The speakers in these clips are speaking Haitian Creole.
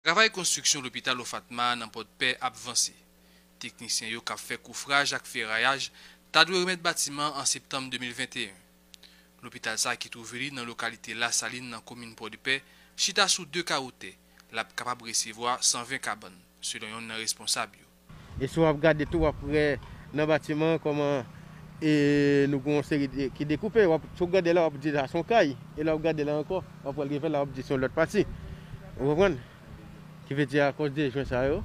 Travay konstriksyon lopital Ofatma a nan Pòdpè ap vanse. Teknisyen yo k ap fè koufraj ak ferayaj ta dwe remèt batiman an septanm 2021. Lopital sa ki twouve li nan lokalite Lasalin nan komin Pòdepè chita sou 2 kawo tè, l ap kapab resevwa 120 kabann, selon yonn nan responsab yo. E si wap gade tou wap wè nan batiman an kòman e nou gen yon seri de ki dekoupe wap si w gade la wap di sa son kay e lè wap gade la ankò wap pral rive la wap di son lòt pati ou konprann ki vle di akòz de jwen sa yo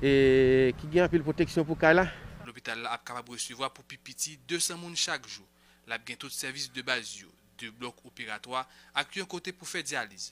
e ki gen anpil pwoteksyon pou kay la. Lopital la ap kapab resevwa pou pi piti 200 moun chak jou. Lap gen tout sèvis de baz yo, 2 blòk operatwa ak yon kote pou fè dyaliz.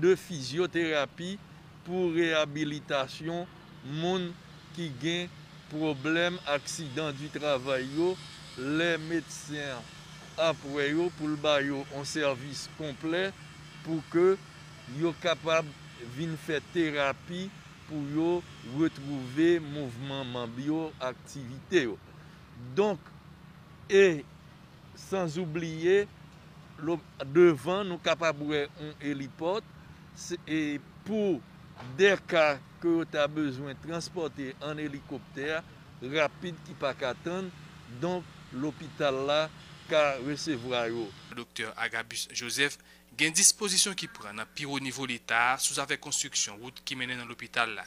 de fizyoterapi pou reyabilitasyon moun ki gen pwoblèm aksidan di travay yo lè medsen an ap wè yo pou l ba yo on sèvis konplè pou ke yo kapab vin fè terapi pou yo retwouve mouvman manb yo, aktivite yo. Donk e sanzoubliye. Devan nou kapab wè yon elipòt e pou dè ka ke yo ta bezwen transpòte an elikoptè rapid ki pa ka tann, donk lopital la ka resevwa yo. Doktè Agabus Joseph, gen dispozisyon ki pran nan pi wo nivo leta a sou zafè konstriksyon wout ki mennen nan lopital la.